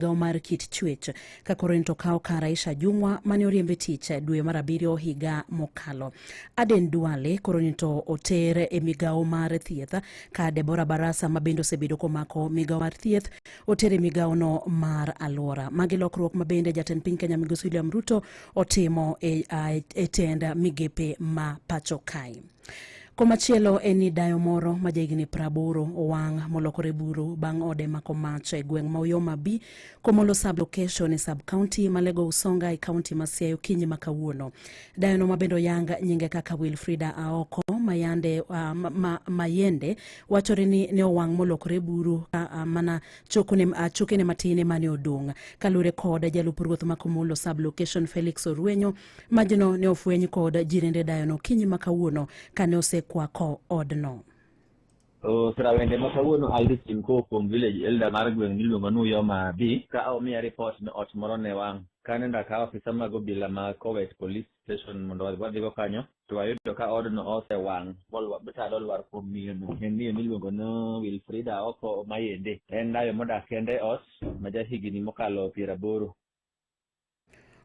migawo mar kit chuech ka koro en to kawo kar Aisha Jumwa mane oriembe tich e dwe mar abiriyo higa mokalo. Aden Duale koro ni to oter e migawo mar thieth ka Deborah Barasa ma bende osebedo komako migawo mar thieth oter e migawono mar alwora. Magi lokruok ma bende jatend piny Kenya Migosi William Ruto otimo e, e tend migepe ma pacho kae. Komachielo en ni dayo moro ma jahigni praboro owang' molokore buru bang' ode mako mach e gweng' ma Uyoma B, Komolo sub location e sub county ma Lego Usonga e county ma Siaya okinyi ma kawuono. Dayono ma bende oyang nyinge kaka Wilfrida Aoko Mayande, uh, ma, ma, Mayende wachore ni ne owang' molokore buru ka uh, mana chokone, uh, chokene matin emane odong'. Kalure kod jalup ruoth ma Komolo sub location Felix Orwenyo Majno ne ofweny kod jirende dayono kinyi ma kawuono kane osekwako odno. Osira wende ma kawuono Aldi Simko kuom village elder mar gweng' miluongo ni Uyoma B ka omiya ripot ni ot moro ne wang'. Kane ndakawo ofisa mag obila ma Kowet Police Station mondo wadhigo kanyo, to wayudo ka odno osewang' motado olwar kuom miyono. En miyo miluongo ni Wilfrida Oko Mayende. En dayo modak kende e ot ma ja higni mokalo piero aboro.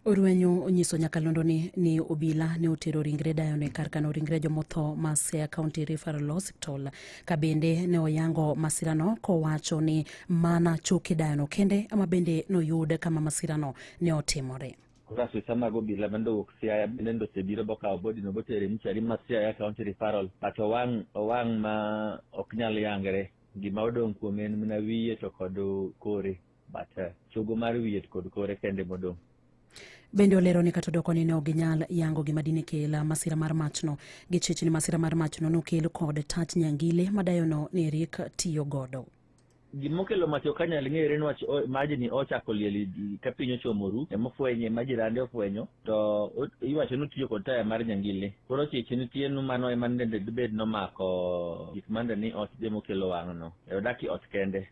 Orwenyo onyiso nyakalondo ni, ni obila ne otero ringre dayone kar kano ringre jomotho ma Siaya County Referral Hospital ka bende ne oyango masirano kowacho ni mana choke dayono kende ama bende noyud kama masirano ne otimore. Ofisa mag obila bende owuok Siaya bende ndoche biro bokawo bodino botere mochari ma Siaya County Referral but owang' owang' ma ok nyal yangre gima odong' kuome en mana wiye to kod kore. But uh, chogo mar wiye kod kore kende modong'. Bende olero ni kata odoko ni ne ok ginyal yango gima dine kel masira mar machno. Gichich ni masira mar machno nokel kod tach nyangile madayono ni Eric tiyo godo. gimokelo mach ok anyal ng'ere niwach majni ochako liel ka piny ochomo ru emofwenye ma jirande ofwenyo to iwacho ni otiyo kod taya mar nyangile koro chiche nitie nu mano ema nende dibed nomako gik mande ni ot demokelo wang'no e odaki ot kende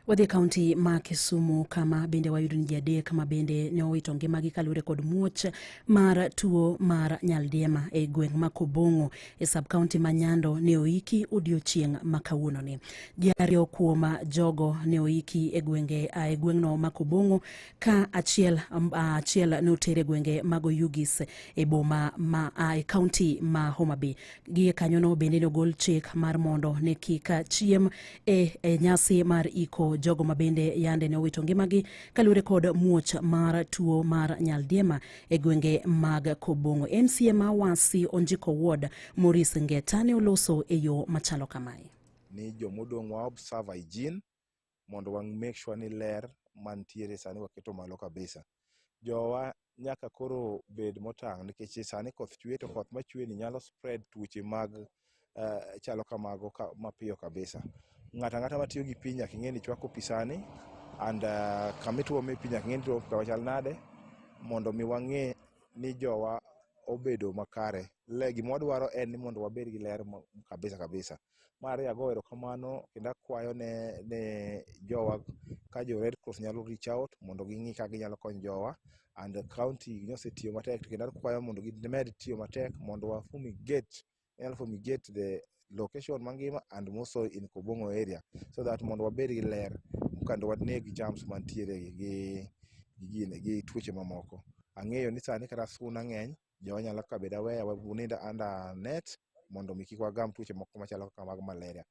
Wadhi e kaunti ma Kisumu kama bende wayudo ni ji adek ma bende ne owito ngimagi kaluwore kod muoch mar tuo mar nyaldiema e gweng' ma Kobong'o e sub kaunti ma Nyando ne oiki odiochieng' ma kawuononi. Ji ariyo kuom jogo ne oiki e gwenge e gweng'no ma Kobong'o ka achiel achiel ne oter e gwenge mag Oyugis e boma ma e kaunti ma Homa Bay. gie kanyono bende nogol chik mar mondo ne kik chiem e, e nyasi mar iko jogo ma bende yande ne owito ngimagi kaluwore kod muoch mar tuo mar nyaldiema e gwenge mag kobongo mca ma wasi onjiko ward moris ngeta ne oloso e yo machalo kamae ni jomodong' wa observe hygiene mondo wa make sure ni ler mantiere sani waketo malo kabisa. Jowa nyaka koro bed motang' nikech sani koth chwe to koth machwe ni nyalo spread tuoche mag uh, chalo kamago ka, mapiyo kabisa. Ng'ata ng'ata matiyo gi piny nyaka ing'e ni chwako pi sani and uh, kama ituome pi nyaka ing'e ni ituome kawa chal nade mondo mi wang'e ni jowa obedo makare. Le gima wadwaro en ni mondo wabed gi ler kabisa kabisa. Mar ariyo ago erokamano kendo akwayo ne ne jowa ka jo Red Cross nyalo reach out mondo ging'i kaka ginyalo konyo jowa and the county nosetiyo matek to kendo akwayo mondo gimed tiyo matek mondo wa fumigate wanyalo fumigate the location mangima and also in Kobong'o area so that mondo wabed gi ler kendo waneg germs mantiere gi gi gini gi tuoche mamoko. Ang'eyo ni sani kata suna ng'eny Joma nyalo kawo bed aware wa- unind under net mondo mi kik wagam tuoche moko machalo kaka mag malaria.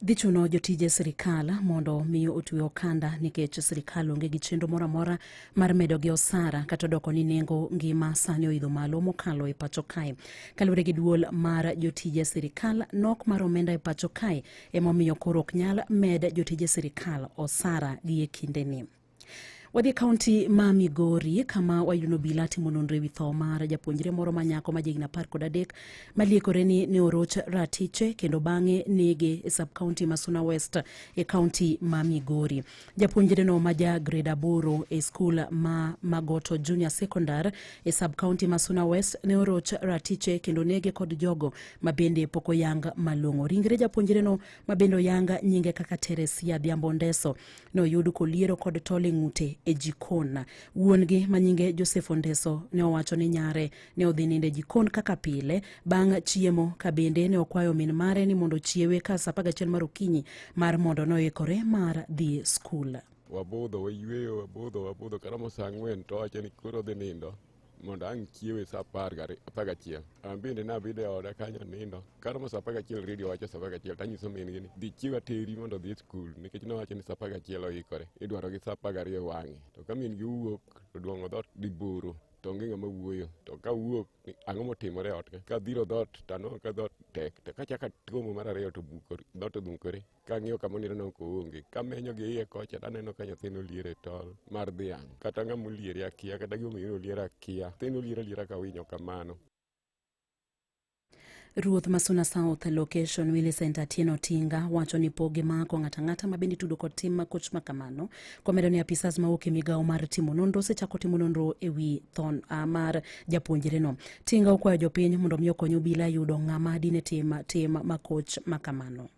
Dhi chuno jotije sirkal mondo mi otwe okanda nikech sirkal onge gi chenro moro amora mar medo gi osara kata doko ni nengo ngima sani oidho malo mokalo e pacho kae. Kaluwore gi duol mar jotije sirkal, nok mar omenda e pacho kae emomiyo koro ok nyal med jotije sirkal osara gi e kindeni. Wadhi e kaunti ma Migori kama wayudo obila timo nonro ewi tho mar japuonjre moro ma nyako ma jahigni apar kod adek maliekore ni ne oroch ratiche kendo bang'e nege e sub kaunti ma Suna West e kaunti ma Migori. Japuonjreno ma ja grade aboro e skul ma Magoto Junior Secondary e sub kaunti ma Suna West ne oroch ratiche kendo nege kod jogo ma bende pok oyang malong'o. Ringre japuonjreno ma bende oyang nyinge kaka Teresia Dhiambo Ndeso noyud koliero kod tol e ng'ute e jikon. Wuon-gi ma nyinge Joseph Ondeso ne owacho ni nyare ne odhi nindo e jikon kaka pile bang' chiemo ka bende ne okwayo min mare ni mondo ochiewe ka sa 11 mar okinyi mar mondo noikore mar dhi skul. Wabudho, wayueyo, wabudho, wabudho, karomo sa ang'wen to owacho ni koro odhi nindo. mondo ang' chiewe sa apar gari- apar gachiel. An bende nabedo e oda kanyo nindo. Kata ma sa apar gachiel redio wacho sa apar gachiel to anyiso min gini dhi chiew ateri mondo odhi e skul nikech nowacho ni sa apar gachiel oikore. Idwaro gi sa apar gariyo wang'e. To ka min gi wuok to dwong'o dhoot dhi boro to onge ng'ama wuoyo to ka wuok ni ang'o motimore e ot ka? ka dhiro dhoot to anwang'o ka dhoot tek to kachaka tuomo mar ariyo to bukore dhoot odhungore kang'iyo kama onindo noko onge kamenyo gi iye kocha taneno ka nyathino liere tol mar dhiang' kata ng'ama oliere akia kata gimomiyo oliere akia nyathino oliere aliera ka winyo kamano Ruoth Masuna South Location Millicent Atieno Tinga wacho ni pogi mako ng'ata ng'ata ma bende tudo kod tim ma koch ma kamano komedo ni apisas ma wuok e migawo mar timo nonro osechako timo nonro e wi thon uh, mar japuonjre no. Tinga okwayo jopiny mondo mi okony obila yudo ng'ama dine tim tim ma koch ma kamano.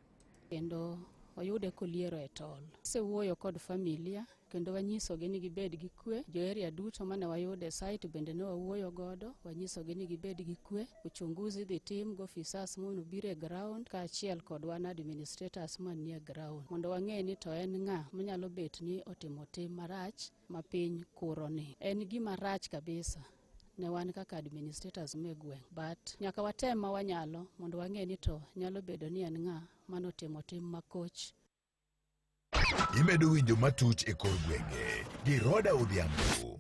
kendo oyude koliero e tol. Asewuoyo kod familia kendo wanyisogi ni gibed gi kwe. Joeria duto mane wayudo e site bende ne wawuoyo godo, wanyisogi ni gibed gi kwe. Uchunguzi dhi tim gi ofisas mondo obiro e ground kaachiel kod wan administrators manie ground mondo wang'e ni to en ng'a manyalo bet ni otimo tim marach ma piny kuroni. En gima rach kabisa ne wan kaka administrators me gweng but nyaka watem ma wanyalo mondo wang'e ni to nyalo bedo ni en ng'a mano timo tim makoch imedo winjo matuch e kor gwenge gi Roda Odhiambo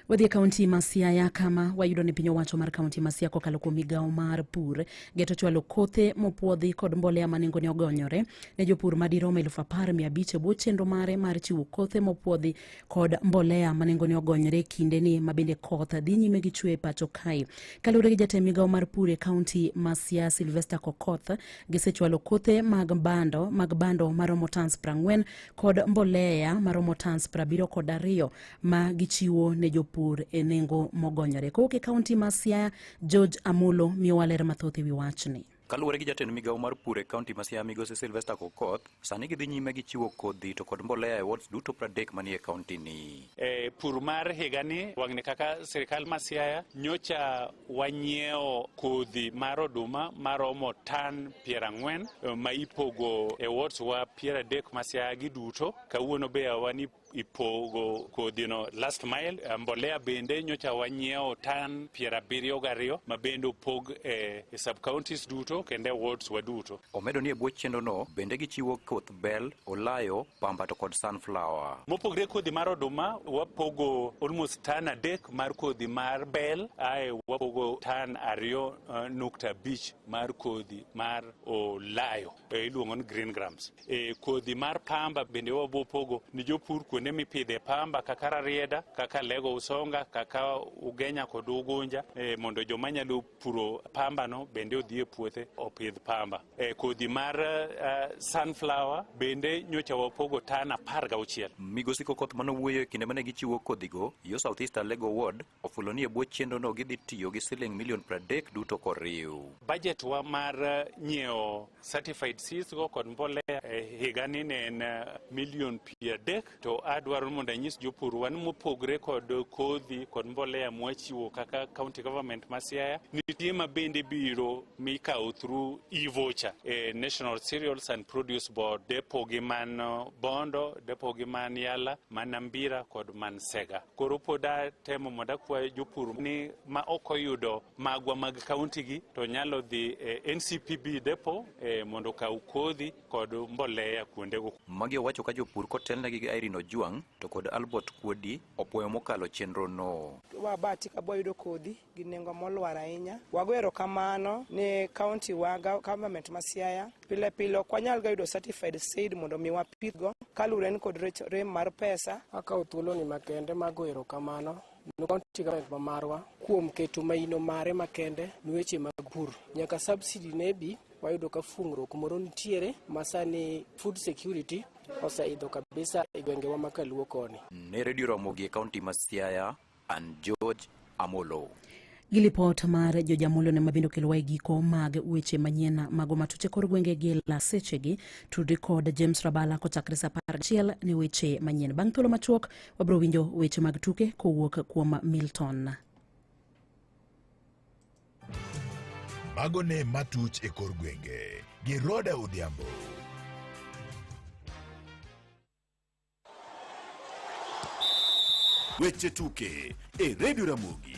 Wadhi e kaunti ma Siaya kama wayudo ni piny owacho mar kaunti ma Siaya kokalo kuom migawo mar pur geto chwalo kothe mopwodhi kod mbolea ma nengone ogonyore ne jopur madirom elfu apar mia abich e bwo chenro mare mar chiwo kothe mopwodhi kod mbolea ma nengone ogonyore kindeni ma bende koth dhi nyime gi chwe e pacho kae. Kaluwore gi jatend migawo mar pur e kaunti ma Siaya Sylvester Kokoth, gisechwalo kothe mag bando mag bando maromo tans prang'wen kod mbolea maromo tans prabiro kod ariyo ma gichiwo ne jopur e nengo mogonyore. Kowuok e kaunti ma Siaya, George Amulo miyowa ler mathoth e wi wachni. Kaluwore gi jatend migawo mar pur e kaunti ma Siaya migosi Sylvester Kokoth, sani gidhi nyime gi chiwo kodhi to kod mbolea e wards duto pradek manie kauntini. E pur mar higani wang'ni kaka sirikal ma Siaya nyocha wanyiewo kodhi mar oduma maromo tan piero ang'wen ma ipogo e wards wa piero adek ma Siaya gi duto. Kawuono be wan ipogo kodhino last mile. Eh, mbolea bende nyocha wanyiewo tan piero abiriyo gariyo ma bende opog e, e sub counties duto kendo e wards wa duto. Omedo ni e bwo chenrono bende gichiwo koth bel, olayo, pamba to kod sunflower. Mopogre kodhi mar oduma wapogo almost tan adek mar kodhi mar bel ae wapogo tan ariyo uh, nukta abich mar kodhi mar olayo. e, iluongo ni green grams. E, kodhi mar pamba bende wabiro pogo ni jopur kuonde mipidhe pamba kaka Rarieda, kaka Lego Usonga, kaka Ugenya kod Ugunja e, mondo joma nyalo puro pambano bende odhi e puothe opidh pamba. E, kodhi mar uh, sunflower bende nyocha wapogo tan apar gauchiel. Migosi Kokoth mane owuoyo e kinde mane gichiwo kodhigo yo South East Alego Ward ofulo ni e bwo chenrono gidhi tiyo gi siling milion 30 duto koriw. Bajet wa mar eh, nyiewo certified seeds go kod mbolea e higani ne en eh, milion piero adek to adwaro mondo anyis jopur wan mopogre kod kodhi kod mbolea mwachiwo kaka county government ma Siaya nitie ma bende biro mikawo through e-voucher e National Cereals and Produce Board depo gi man eh, Bondo depo gi man Yala man Ambira kod man Sega koro pod atemo mondo akwa jopur ni ma ok oyudo magwa mag kauntigi to nyalo dhi e NCPB depo e, mondo okaw kodhi kod mbolea kuondego. Magi owacho ka jopur kotelnegi gi Irene Ojwang' to kod Albert Kuodi opwoyo mokalo chenrono. Wabati ka bwayudo kodhi gi nengo molwar ahinya. Wago erokamano ne kaunti wa government ma Siaya. Pile pile ok wanyal ga yudo certified seed mondo mi wapidhgo kaluwore ni kod rem mar pesa. Akawo thuoloni makende mago erokamano ne kaunti government ma marwa kuom keto maino mare makende ni weche mag pur. Nyaka subsidy ne bi wayudo ka fungruok moro nitiere masani food security oseidho kabisa e gwengewa ma Kaluo koni. Ne redio Ramogi e kaunti ma Siaya, and George Amolo. Gi lipot mar George Amolo ne mabende okelowa e giko mag weche manyien mago matuche kor gwenge gi la sechegi tudri kod James Rabala kochakre sa apar gachiel ne weche manyien. Bang' thuolo machuok wabiro winjo weche mag tuke kowuok kuom Milton. Mago ne matuch e kor gwenge gi Roda Odhiambo. Weche tuke e redio Ramogi.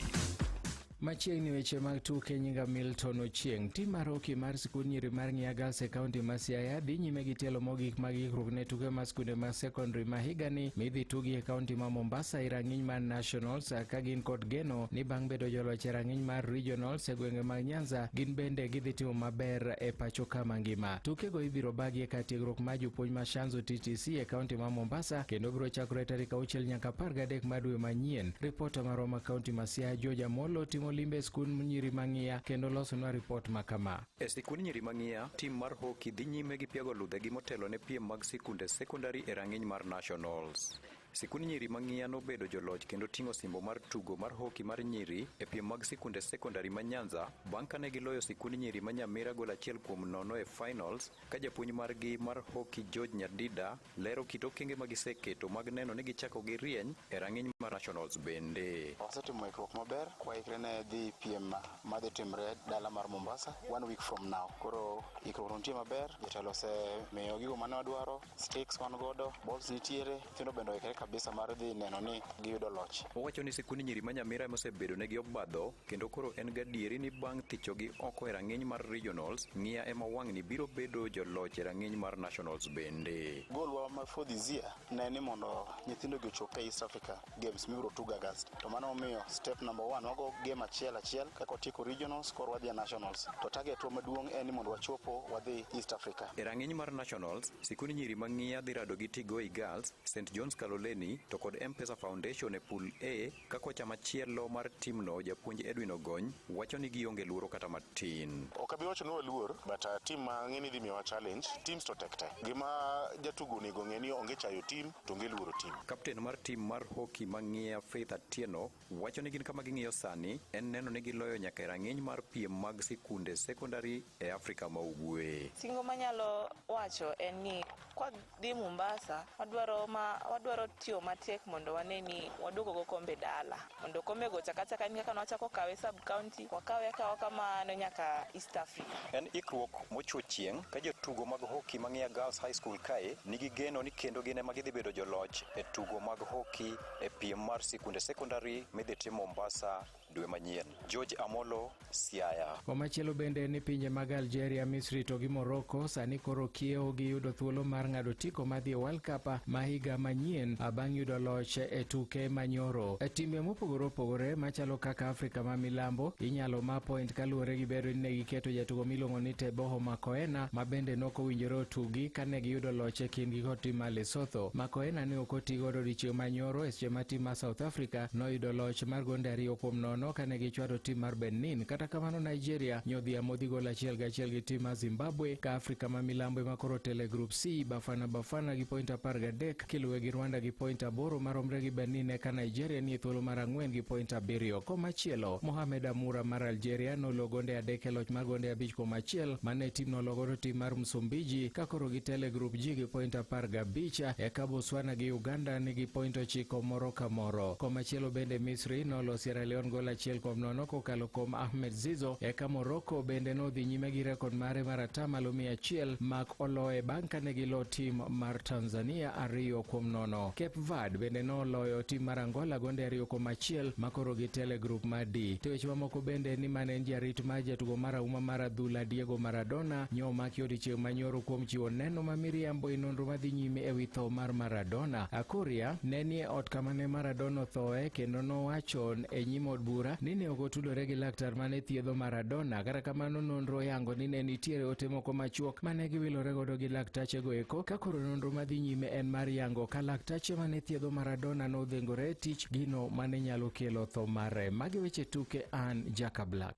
Machiegni weche mag tuke nyinga Milton Ochieng. Tim mar hoki mar sikund nyiri mar Ng'iya Girls e kaunti ma Siaya dhi nyime gi tielo mogik mag ikruok ne tuke mar skunde mag secondary ma higani midhi tugi e kaunti ma Mombasa e rang'iny mar Nationals ka gin kod geno ni bang' bedo joloch e rang'iny mar Regionals e gwenge mag Nyanza gin bende gidhi timo maber e pacho ka mangima. Tukego ibiro bagi e kar tiegruok mar jopuonj ma Shanzu TTC e kaunti ma Mombasa kendo biro chakore tarik auchiel nyaka apar gadek mar dwe manyien. Ripota marwa ma kaunti ma Siaya George Amolo timo limbe e skund nyiri mang'iya kendo losonwa ripot ma kama. E sikund nyiri mang'iya, tim mar hoki dhi nyime gi piago ludhegi motelo ne piem mag sikunde sekondari e rang'iny mar Nationals. Sikund nyiri ma ng'iya nobedo joloch kendo ting'o simbo mar tugo mar hoki mar nyiri e piem mag sikunde sekondari ma Nyanza bang' kane giloyo sikund nyiri ma Nyamira gol achiel kuom nono e finals ka japuonj margi mar hoki George Nyadida lero kit okenge ma giseketo mag neno ni gichako gi rieny e rang'iny mar nationals bende. Wasetimo ikruok maber kwaikre ne dhi piem ma dhi timre dala mar Mombasa one week from now. Koro ikruok nitie maber, jotelo osemiyo gigo mane wadwaro. sticks wan godo, balls nitiere, nyithindo bende oikre kabisa mar dhi neno ni giyudo loch. Owacho ni sikund nyiri ma Nyamira ema osebedo negi obadho kendo koro en gadieri ni bang' thichogi oko e rang'iny mar regionals, ng'iya ema wang'ni biro bedo joloch e rang'iny mar nationals bende. Golwa ma for this year ne ni mondo nyithindogi ochop e East Africa. games mibiro tugo August. To mano omiyo step number one wago game achiel achiel kaka otieko regionals koro wadhi e nationals. To target wa maduong' en ni mondo wachopo wadhi East Africa. E rang'iny mar nationals, sikund nyiri mang'iya dhi rado gi Tigoi Girls, St John's Kaloleni to kod M-Pesa Foundation e pool A ka kocha machielo mar timno japuonj Edwin Ogony wacho ni gionge luoro kata matin. Ok abi wacho ni waluor but uh, team mang'e ni dhi miyowa challenge teams to tek tek. Gima jatugo onego ng'e ni onge chayo team to onge luoro tim. Kapten mar tim mar hoki mang'iya Faith Atieno wacho ni gin kama ging'iyo sani en neno ni giloyo nyaka e rang'iny mar piem mag sikunde sekondari e Afrika ma Ugwe. Singo manyalo wacho en ni kwadhi Mombasa wadwaro, ma, wadwaro tiyo matek mondo wane ni waduogo go kombe dala. mondo okome go chakachaka en kaka nwachako kawe sub county wakawe akawa kamano nyaka east africa En ikruok mochwo chieng' ka jotugo mag hoki ma Ng'eya Girls High School kae nigi geno ni kendo gin ema gidhi bedo joloch e tugo mag hoki e piem mar sikunde sekondari midhi tim Mombasa dwe manyien. George Amolo, Siaya. Komachielo bende ni pinje mag Algeria, Misri to gi Morocco sani koro kiewo gi yudo thuolo mar ng'ado otiko madhi e World Cup ma higa manyien bang' yudo loch e tuke manyoro. E timbe mopogore opogore machalo kaka Afrika ma Milambo inyalo ma point kaluwore gi bedo ni ne giketo jatugo miluongo ni Teboho Makoena ma bende nok owinjore otugi kane giyudo loch e kindgi kod tim mar Lesotho. Makoena ne ok otigodo odiechieng' manyoro e seche ma tim mar South Africa noyudo loch mar gonde ariyo kuom nono kane ne gichwado tim mar Benin. Kata kamano, Nigeria nyodhi amodhi gol achiel gi achiel gi tim mar Zimbabwe, ka Afrika ma milambo ema koro tele Group C. Bafana Bafana gi point apar gadek kiluwe gi Rwanda gi point aboro maromre gi Benin, eka Nigeria nie thuolo mar ang'wen gi point abiriyo. Komachielo, Mohamed Amura mar Algeria nolo gonde adek e loch mar gonde abich kuom achiel mane tim nologodo tim mar Msumbiji ka koro gitele Group G gi point apar gabich, eka Botswana gi Uganda nigi point ochiko moro ka moro. Komachielo bende Misri Misri nolo Sierra Leone gol achiel kuom nono kokalo kuom Ahmed Zizo. Eka Morocco bende nodhi nyime gi rekod mare mar atamalo mia achiel mak oloye bang' kane gilo tim mar Tanzania ariyo kuom nono. Cape Verde bende noloyo tim mar Angola gonde ariyo kuom achiel makoro gitele grup mar D. To weche mamoko bende ni mane en jarit mar jatugo mar auma mar adhula Diego Maradona nyo omaki odiechieng' manyoro kuom chiwo neno ma miriambo e nonro madhi nyime ewi tho mar Maradona. Akoria ne nie ot kama mane Maradona othoe kendo nowacho e nyim od bura ni ne ok otudore gi laktar mane thiedho Maradona. Kata kamano nonro yango ni ne nitiere ote moko machuok mane giwilore godo gi laktachego eko ka koro nonro madhi nyime en mar yango ka laktache mane thiedho Maradona nodhengore tich gino mane nyalo kelo tho mare. Magi weche tuke an Jaka Black.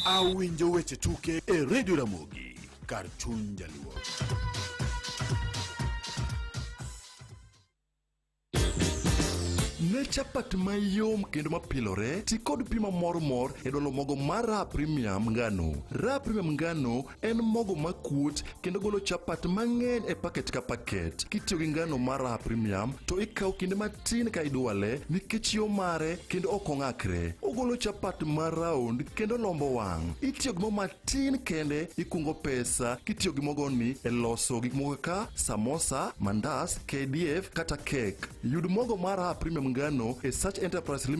Awinjo weche tuke e Radio Ramogi kar chuny jaluo. Ne chapat mayom kendo mapilore, ti kod pi mamor mor e dolo mogo mar Raha Premium ngano. Raha Premium ngano en mogo makuot kendo golo chapat mang'eny e paket ka paket. Kitiyo gi ngano mar Raha Premium to ikawo kinde matin ka idwale nikech yo mare kendo ok ong'akre. Ogolo chapat ma round kendo lombo wang'. Itiyo gi mo matin tin kende ikungo pesa kitiyo gi mogoni e loso gik moko kaka samosa, mandas, KDF kata kek. Yud mogo mar Raha Premium Ngano e Search Enterprise Limited